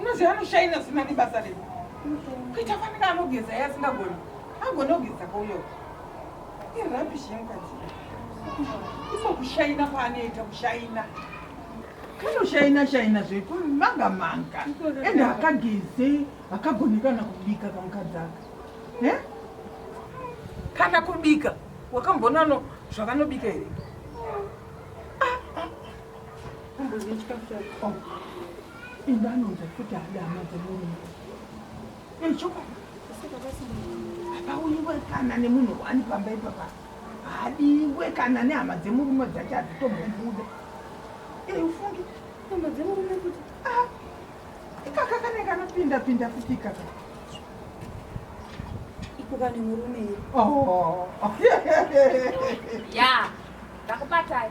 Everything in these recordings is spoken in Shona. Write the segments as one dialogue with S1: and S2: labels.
S1: unoziva anoshaina zina nebasa redu kuita fanira anogeza ye asingagoni agone kugeza kauyo irabishi yemukadzi iko kushaina kwaanoita kushaina kanoshaina shaina zvekumanga manga ende akageze akagonekana kubika kamukadzi aka eh? kana kubika wakambonano zvakanobika here indanonza futi hada hama dzemurume echokwadi hapauyiwe kana nemunhu wani pamba ipapa hadiwe kana nehama dzemurume dzacho hadzitombobuda ei ufungi hama dzemurume kuti ah, ikaka kane kanopinda pinda futi ikaka
S2: ikuka nemurume oh.
S3: ya ndakubatai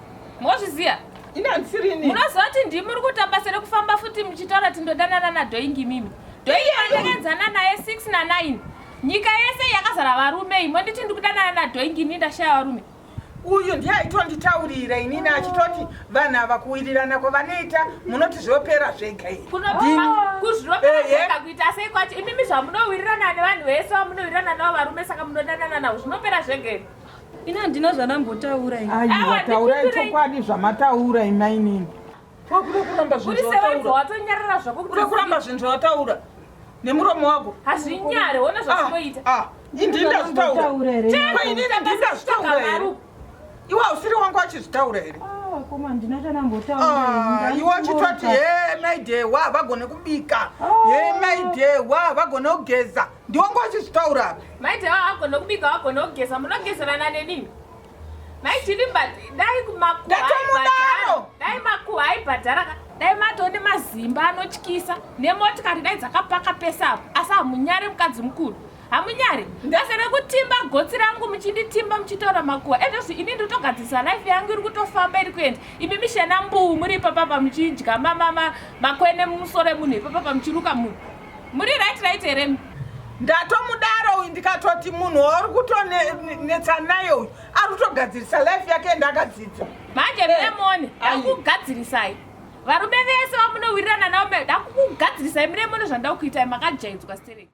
S3: mozviziva
S1: munozoti ndimi muri
S3: kutamba sere kufamba futi muchitaura kuti ndodanana nadhoingi mimi dhoingi vandakenzana naye 6 na 9 nyika yese yakazara varume imo nditi ndikudanana nadhoingi ini ndashaya varume uyu ndiye
S1: aitonditaurira inini achitoti vanhu ava kuwirirana kwavanoita munoti zvopera zvega iri kuzviroperakuzviroperakuzvita
S3: sei kwacho imimi zvamunowirirana nevanhu vese vamunowirirana navo varume saka munodanana navo zvinopera zvega iri Ini handina
S2: zvandambotaura ini. Aiwa, taurai
S1: chokwadi zvamataura imainini. Wakuda kuramba zvinhu zvawataura.
S3: Watonyarara zvako. Kuda kuramba zvinhu
S1: zvawataura. Nemuromo wako. Hazvinyare, wona
S3: zvazvinoita. Ah, ah. Ini ndazvitaura.
S1: Chema ini ndazvitaura. Iwe usiri wangu achizvitaura here? Ah, koma ndina
S2: chanambotaura. Ah, iwe achitoti
S1: he maidhe wa vagone kubika. He maidhe wa vagone kugeza. ndiongo achizvitaura apa maiti awa agona
S3: kubika wagona kugeza munogezerana nenini maitini but dai kumakuaibhadhara dai makuwa aibhadhara dai matone mazimba anotyisa nemotikari dai dzakapaka pese apo asi hamunyare mukadzi mukuru hamunyare ndese rekutimba gotsi rangu muchinditimba muchitaura makuwa ezvozvi ini ndotogadzirisa life yangu iri kutofamba iri kuenda imi mishena mbuu muri ipapapa muchidya makwene mumusoro emunhu ipapapa muchiruka munhu Muri right right here mi? Ndatomudaro
S1: uyu ndikatoti munhu wauri kutonetsa naye uyu ari kutogadzirisa life yake ende akadzidza. Manje eh, Lemon
S3: akugadzirisai. Varume vese vamunowirirana navo ndakukugadzirisai mune mune zvandakuitai makajaidzwa stereki.